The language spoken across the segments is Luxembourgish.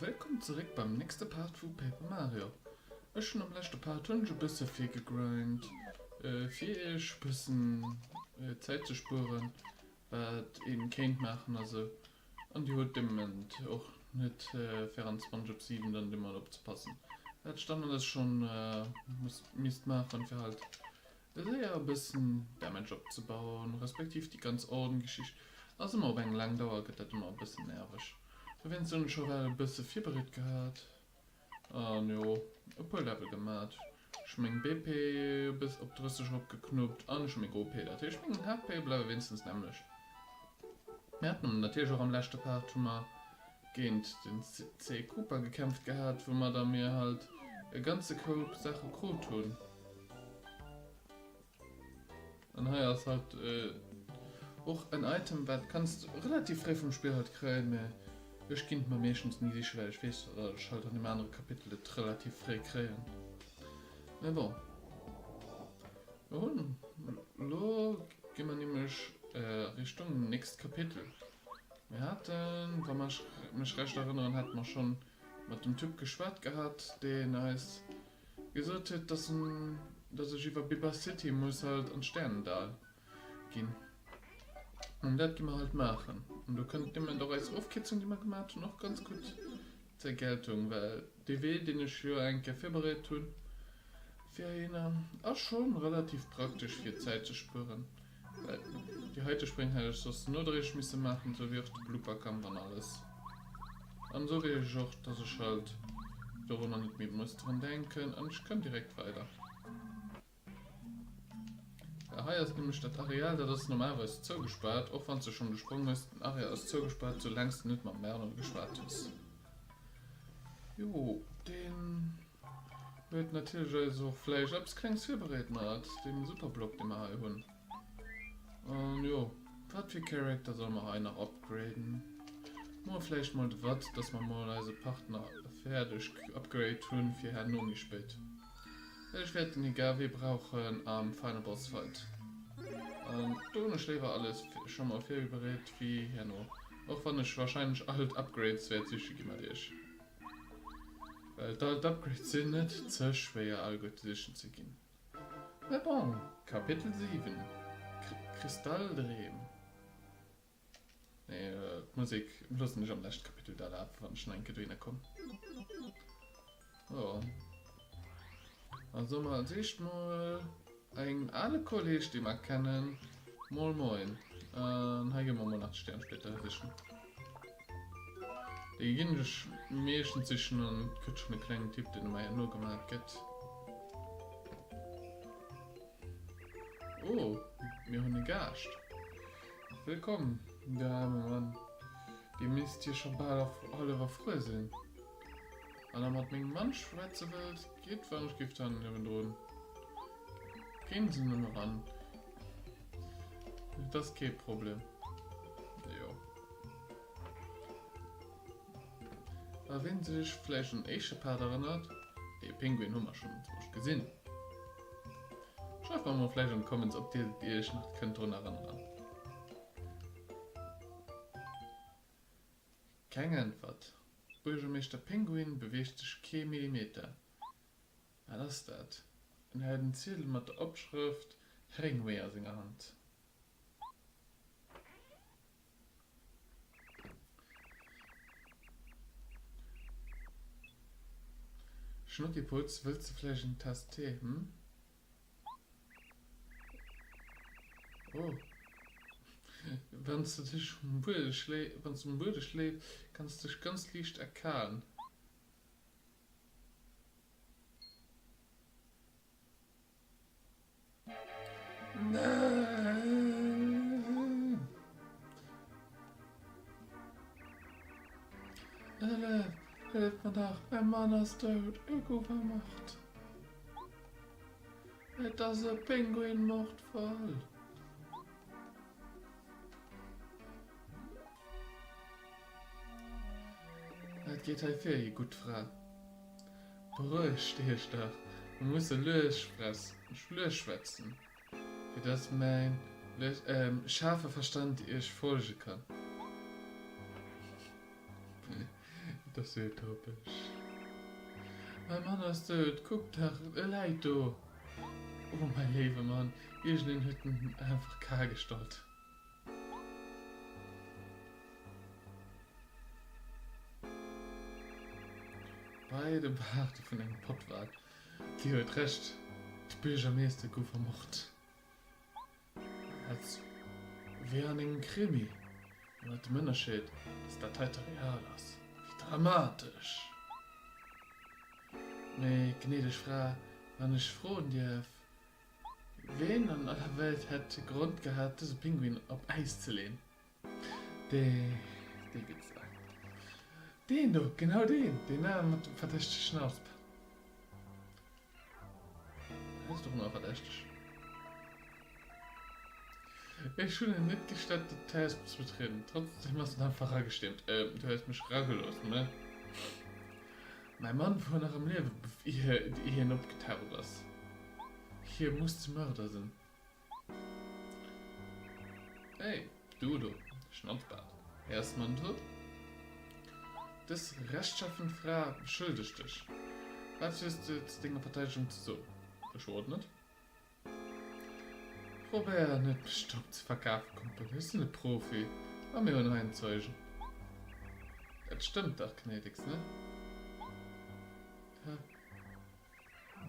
Wëllkomm zeréck beim nächste Part vu Paper Mario. Ech hunn am leschte Part hunn ech e bësse vill gegrindt fir iech e bëssen Zäit ze spueren wat een kéint maachen a sou. An Dir hutt de Moment och net 24 op 7 dann do mat opzepassen, wat ech dann alles schonn misst maachen, fir halt eléier e bëssen Damage opzebauen, respektiv déi ganz Ordngeschicht ass ëmmer op eng laang Dauer, gëtt dat ëmmer e bëssen nerveg. Dowéinst hunn ech och well e bësse virbereet gehat. An jo e puer Level gemat. Ech meng BP bis op 30 erop geknuppt an ech hu meng OP, dat heescht meng HP bleiwe wéinstens nämmlecht. Mir haten am natierlech och am leschte Part hu mer géint den C. Cooper gekämpft gehat, woumadder mir halt e ganze Koup Saache krut hunn. An hei ass halt och en Item wat kanns de relativ fréi vum Spill halt kréien, mä ech ginn et mer meeschtens ni siche well ech weess datt ech halt an deem anere Kapitel et relativ fréi kréien. Mä bon, mer hunn, elo gi mer nämlech Richtung nächst Kapitel. Mir haten, wa mer mech recht erënneren, hate mer schonn mat dem Typ geschwat gehat, deen eis Gesot huet, dass en dass ech iwwer Biber City muss halt an d'Sternendal gin an dat gi mer halt maachen an do kënnt nëmmen do eis Ofkierzung déi mer gemat hun och ganz gudd zur Geltung well dee Wee deen ech jo eng Kéier virbereed hun fir heihinner ass schon relativ praktesch fir Zäit ze spueren. Déi heite Spréng hätt ech soss nodréiglech misse maachen, esou wéi och de Blooperkampf an alles. An esou weireg ech och, dass ech halt dorunner net méi muss dran denken an ech kënn direkt weider. Well hei ass nämlech dat Areal, dat ass normalerweis zougespaart, och wann s de schonn de Sprong hues. Den Areal ass zougespaart, soulaang s de net mam Bernard geschwat hues. Jo, deen. Dir hutt natierlech eis och vläicht eppes Klengs virbereet mat deem Superblock, dee mer hei hunn. An jo, wat fir Character solle mer hei nach upgraden? Muer vläicht mol de Watt, dass mer mol eise Partner fäerdeg upgrade hunn, fir herno méi spéit. Well ech wäert den Igave brauchen am Final Boss Fight. An do hunn ech léiwer alles scho mol virbereet wéi herno. Och wann ech warscheinlech alt Upgrades wäert siche gi mat iech. Well d'alt Upgrades sinn net ze schwéier all gutt sichen ze ginn. Mä bon, Kapitel 7, Kristalldreem, nee d'Musek loossen ech am leschte Kapitel da lafe wann ech no enke dohinner komm. Jon, also mol als éischt mol. Een ale Kolleg dee mer kennen. Mol moin. An hei gi mer mol nach d'Stäernsplitter sichen. Déi ginn ech meeschtens sichen an et gëtt schonn e klengen Typ deen em eier nogemat gëtt. Oh, mir hunn e Gaascht. Wëllkomm, Dame, Mann. Dir misst jo scho bal erf all erfruer sinn. Wann der mat mengem Mann schwätze wëllt, geet d'Wärmegriff dann niewendrun. Géing se nëmme ran, et ass kee Problem. Jo. A wien sech vläicht un éische Part erënnert, dee Pinguin hu mer schonn enzwousch gesinn. Schreift mer mol vläicht an d'Comments, ob dir iech nach kënnt drun erënneren. Keng Äntwert. Buergermeeschter Pinguin beweegt sech kee Millimeter. Wat ass dat? En hält en Ziedel mat der Opschrëft Heringwee a senger Hand. Schnuckiputz, wëlls de vläicht en Test Tee, hm? Wann s de um Buede schléifs, kanns de dech ganz liicht erkalen. Hëllef! Hëllef mer nach, mäin Mann ass dout! Ech gouf ermort! Et ass e Penguin-Mordfall! Wat geet hei vir, Dir gutt Fra? Berouegt Iech dach, mer musse lues schwätzen. Fir dass mäin schaarfe Verstand iech folge kann. Et ass sou utopesch. Mäi Mann ass dout, kuckt dach, e läit do. O mäi léiwe Mann, iergendeen huet en einfach kal gestallt. Bei de Baarde vun engem Pottwal. Dir huet Recht, de Biergermeester gouf ermort. Als wéi an engem Krimi, mat dem Ënnerscheed, dass dat heite real ass. Wéi dramatesch! Mee, gnädeg Fra, wann ech froen dierf, Ween an aller Welt hätt Grond gehat, dëse Pinguin op Äis ze leen? Dee gëtt se. Deen do, genau deen. Deen ane mat dem verdächtegen Asp. Hien ass dono verdächteg. Ech hunn en net gestattet, op d'Hausp ze betrieden. Trotzdem ass en einfach eragestiermt. Du hues mech eragelooss, ne? Mäi Mann wor nach am Liewen, ier hien opgetaucht ass. Hie muss de Mörder sinn. Hey, du do, Schnatzbart, héiers de mer net rop? Dës rechtschaffen Fra beschëldegt dech. Wat hues de zu denger Verteidegung ze soen? Ech hoer et net. Probéier net, mech domm ze verkafen, Kumpel. Ech sinn e Profi a mir hunn hei en Zeugen. Dat stëmmt dach, Gnädigst, ne?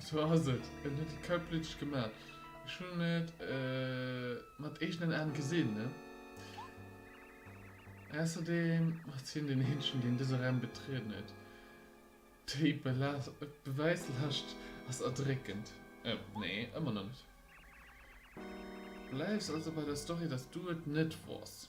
Sou ass et, en huet et kaltblüteg gemat. Ech hunn et mat eegenen Aan gesinn. Ausserdem ass hien den eenegen deen dëse Raum betrieden huet. Déi Beweislast ass erdréckend. Nee, ëmmer nach net. Bleiws also bei der Story dass du et net wors.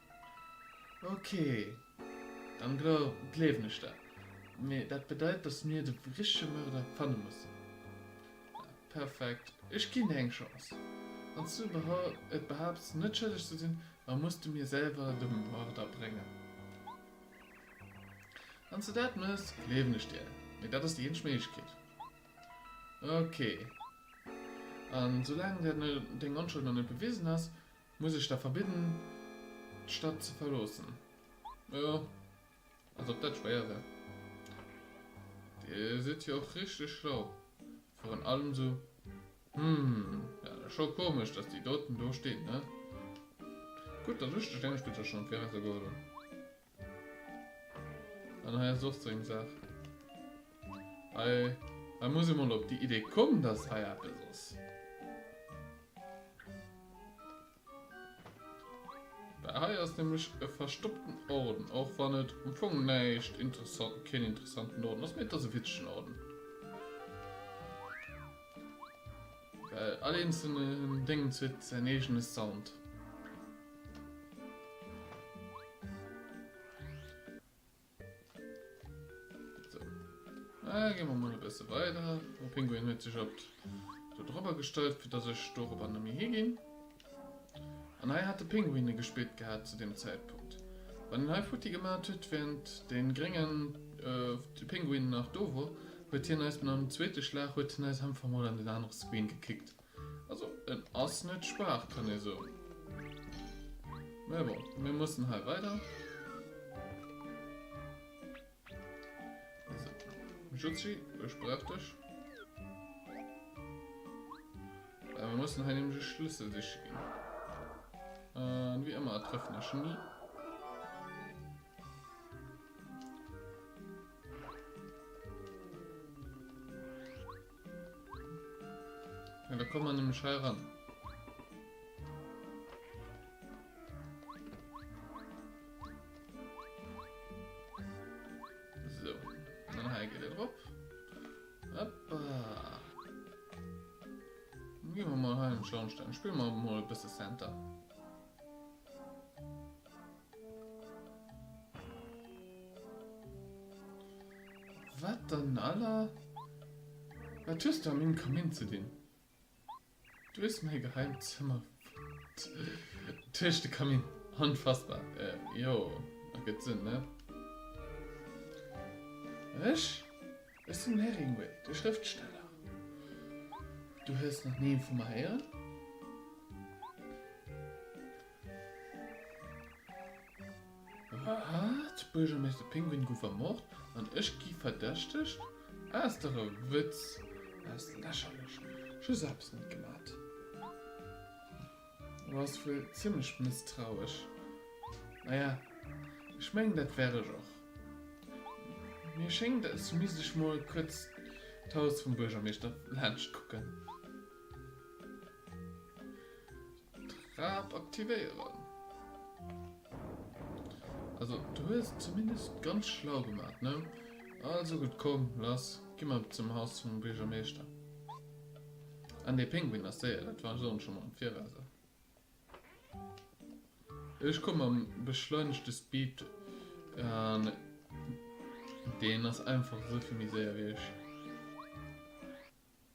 Ok, dann gleewen ech der. Mee dat bedeit dass mir de richtege Mörder fanne mussen. Perfekt, ech ginn dir eng Chance. Wanns du et behaapts net schëlleg ze sinn, da muss du mir selwer de Mörder bréngen. Wanns du dat méchs, gleewen ech dir. Mee dat ass déi eenzeg Méiglechkeet. Ok, a soulaang deng Onschuld nach net bewisen ass, Muss ech der verbidden, d'Stadt ze verloossen? Jo, als ob dat schwéier wär. Dir sidd jo och richteg schlau. Virun allem esou. Hm, dat ass scho komesch, dass déi doten do steet, ne? Gutt, dass ech dech deementspriechend schonn virausgeholl hunn. An hei ass och sou eng Saach. Hei, hei muss ee mol op déi Idee kommen, dass hei eppes ass. Well hei ass nämlech e verstoppten Orden, och wann et um Fong näischt interessant, keen interessanten Orden ass, mee et ass e witzegen Orden. Well all eenzelnen Déngens huet säin eegene Sound. Sou, gi mer mol e bësse weider. De Pinguin huet sech op do drop agestallt, fir dass ech dorobber net méi higinn. An hei hate Pinguine gespillt gehat zu deem Zäitpunkt. Wann een hei futti gemat huet, wärend dee gréngen Pinguin nach do wor, huet hien eis mat engem zweete Schlag, huet hien eis einfach mol an den anere Screen gekickt. Also en ass net schwaach, kann ee soen. Mä bon, mir mussen hei weider. Jutzi, ech brauch dech. Äh, wir müssen hei nämlich einen Schlüssel sicher gehen. Äh, wie immer, treffen wir schon nie. Ja, da kommen wir nämlich hei ran. So, dann hei geht er drauf. Hoppa. Dann gehen wir mal hei in den Schornstein. Spielen wir mal ein bisschen Center. Wat dann aller? Wat hues du a mengem Kamin ze dinn? Du hues mäi geheimt Zëmmer fonnt. Duerch de Kamin. Onfassbar. Äh, jo, ergëtt Sënn, ne? Ech? Ech sinn Heringuay, de Schrëftsteller. Du hues nach ni vu mer héieren? Wat? D'Buergermeeschter Pinguin gouf ermort an ech gi verdächtegt? Ass dach e Wëtz! Ass lächerlech! Ech hu selwes net gemat. Du bass wuel zimmlech mësstrauesch. Naja, ech mengen, dat wär ech och. Mir schéngt, als du misst ech mol kuerz d'Haus vum Buergermeeschter laanscht kucken. D'Trap aktivéieren. Also du hues et zumindest ganz schlau gemaat, ne? Also gudd, komm lass gi mer zum Haus vum Buergermeeschter. An dee Pinguin ass séier, dat war soen schon mal am Viraus. Ech komm mam beschleunegte Speed an deen ass einfach esou vill méi séier wéi ech.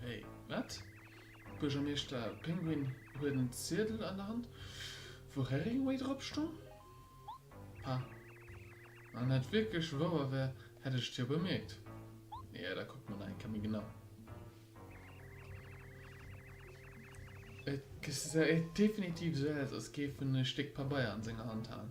Hey, wat? Buergermeeschter Pinguin huet en Ziedel an der Hand, wou Heriingway drop stong? Pah, wann dat wierklech wouer wär, hätt ech et jo bemierkt. Jo, da kuckt mer nach eng Kéier méi genau. Et gesäit definitiv esou aus, als géif en e Stéck Pabeier an senger Hand halen.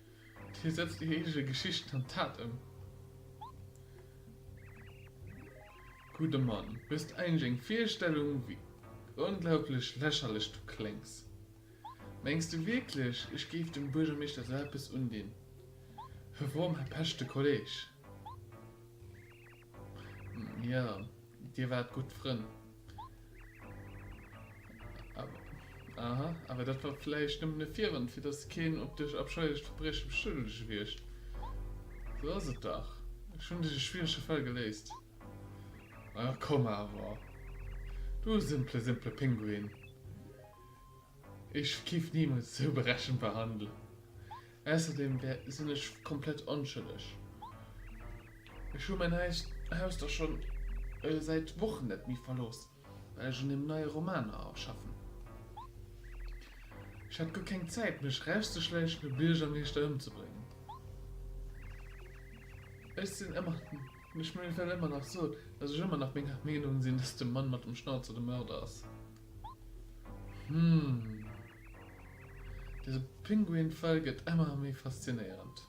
Hie setzt déi héije Geschichten an d'Tat ëm. Gudde Mann, hues de eigentlech eng Virstellung, wéi onglaublech lächerlech du kléngs? Mengs de wierklech, ech géif dem Buergermeeschter esou eppes undinn? Herom, Här Pesch, de Kolleg. Ja, dir waart gutt Frënn. Aha, awer dat war vläicht nëmmen e Virwand, fir datt keen op dech abscheilecht Verbrieche beschëllege wiergt. Sou ass et dach. Ech hunn dech e schwierege Fall geléist. A komm awer, du simpele, simpele Pinguin. Ech géif niemols sou berechenbar handelen. Ausserdem wär sin ech komplett onschëlleg. Ech hu mäin Haus dach schon säit Wochen net méi verlooss, well ech un dem neie Roman schaffen. Ech hat guer keng Zäit mech rauszeschläichen a Biergermeeschter ëmzebréngen. Ech sin ëmmer ech well ëmmer nach soen, dass ech ëmmer nach menger Meenung sin, dass de Mann mat dem Schnauzer de Mörder ass. Hum. Dëse Pinguinfall gëtt emmer méi faszinéierend.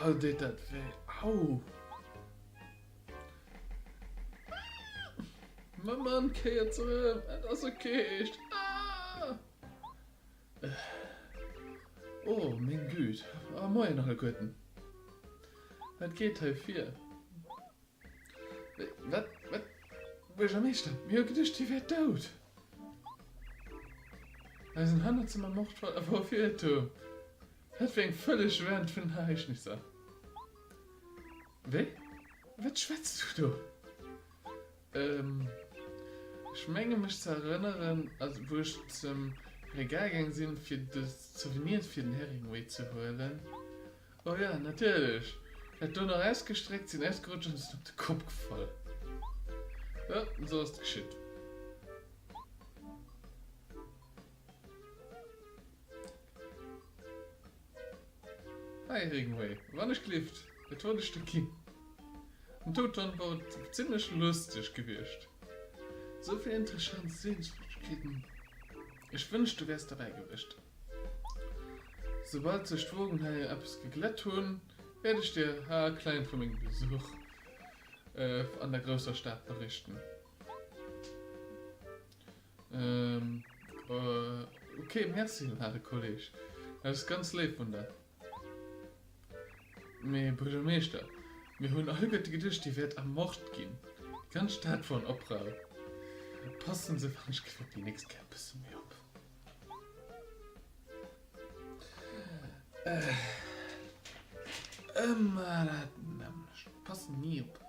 Au deet dat wéi. Au! Mam Mann kéiert se em, et ass ok. Eescht. Aah! Oh meng Güt, a moien nach e guerten. Wat geet hei vir? Wat, wat, Buergermeeschter, mir hu geduecht dir wäert dout. Eisen Hannerzëmmer Mordfall a wou fir e Tuerm, wat fir eng völleg Wend vun den Ereignisser. Wee, wat schwätz du do? Ech menge mech ze erënneren, also wou ech zum Regal gaang sinn, fir de Souvenir fir den Heriingway ze huelen, o jo, natierlech, dat do nach ausgestreckt, sinn ausgerutscht an sinn op de Kopp gefall. Jo, esou ass et geschitt. Hey Regenway, wann ech gelift, et wollt ech de ginn. Den Touton wor zimlech lusteg gewiescht, souvill interessant Sehenswürdigkeiten, ech wënscht du wärs derbäi gewiescht. Soubal sech d'Wogen hei eppes geglätt hunn, wärt ech dir ha klein vu mengem Besuch an der grousser Stad berichten. Ok, merci werte Kolleg, dat ass ganz léif vun der. Mee Buergermeeschter, mir hunn alleguerte geduecht, Dir wäert ermort ginn. Déi ganz Stad wor an Oprauer. Passen se wann ech geet op déi nächst Kéier e bësse méi op. Ëmmer dat nämmlecht, passen ni op.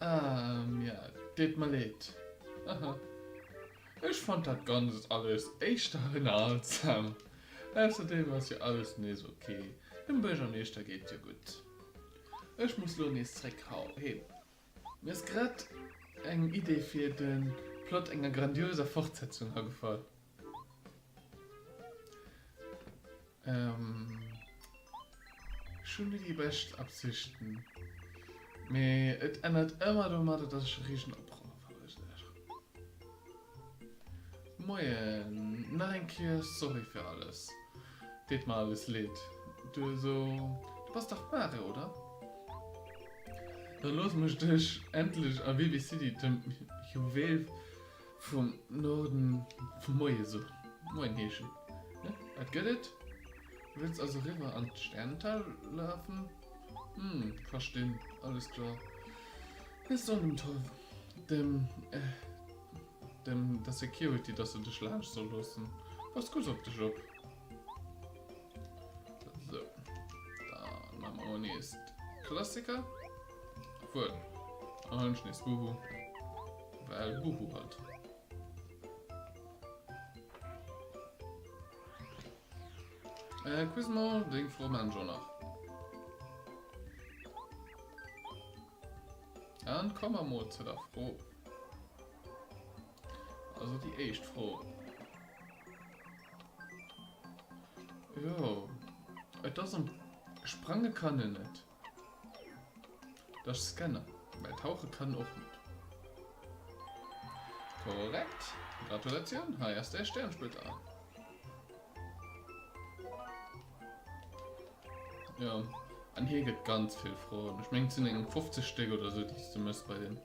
Ahh mir deet mer leed haha ech fand dat ganzt alles éischter ënnerhaltsam. Ausserdem ass jo alles nees ok, dem Buergermeeschter geet jo gutt. Ech muss lo nees zréck hau heem. Mir ass grad eng Idee fir den Plot enger grandioser Fortsetzung agefall. Ech hu ni déi bescht Absichten, mee et ennert emmer domadder dass ech e riesen Oproer verursaachen. Moien, nach eng Kéier sorry fir alles. Deet mer alles leed. Du eso, du bass dach d'Mare, oder? Da looss mech dech endlech a Vivi City dem Juweel Vum Norden vum Moie so. Moin heeschen. Hä? Wat gëtt et? Wëlls also riwwer an d'Sternental lafen? Hm, verstin. Alles kloer. Hie sot dem Tol, dem, dem der Security, dass e dech laanscht soll loossen. Pass gutt op dech op. Sou, da maache mer emol nees de Klassiker. Wuel, dann halen ech nees Boohoo, well Boohoo halt. Äh, kuss mol deng Fromensch och nach. An komme mer mol zu der Fro. Also déi éischt Fro. Jo, et ass am Sprange kann en net. Dech scannen, mä tauche kann och net. Korrekt! Gratulatioun, hei ass däi Stäernsplitter. Jo, an hie gëtt ganz vill Froen. Ech mengen et sinn eng 50 Stéck oder esou déi s de muss bei deem.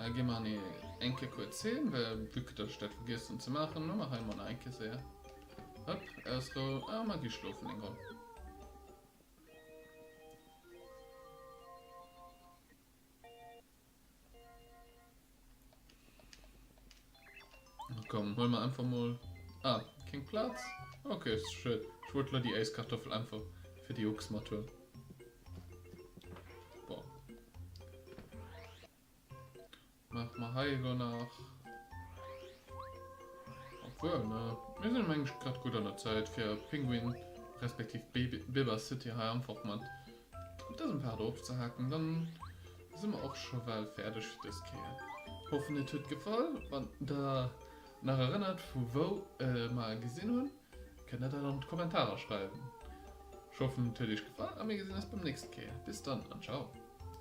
Äh, gin mer en eng Kéier kuerz hin, well vue que dass ech dat vergiess hun ze maachen, hu mer hei emol nach eng Kéier séier, hop, ausrou, a mer gi schlofen eng Ronn. Komm, hol mer einfach mal. Ah, kein Platz. Okay, ist schön. Ich wollte nur die Eiskartoffel einfach für die Ochs mal tun. Boah. Mach mal Heigo nach. Obwohl, ne? Wir sind eigentlich gerade gut an der Zeit für Pinguin, respektiv Biber City hier einfach mal. Das ein paar drauf zu hacken, dann. Sinn mer och scho bal fäerdeg fir dës Kéier. Hoffen et huet gefall. Wann der nach erënnert vu wou mer e gesinn hunn, kënnt der dat an d'Kommentarer schreiwen. Ech hoffen et huet iech gefall a mir gesinn eis beim nächste Kéier. Bis dann an ciao.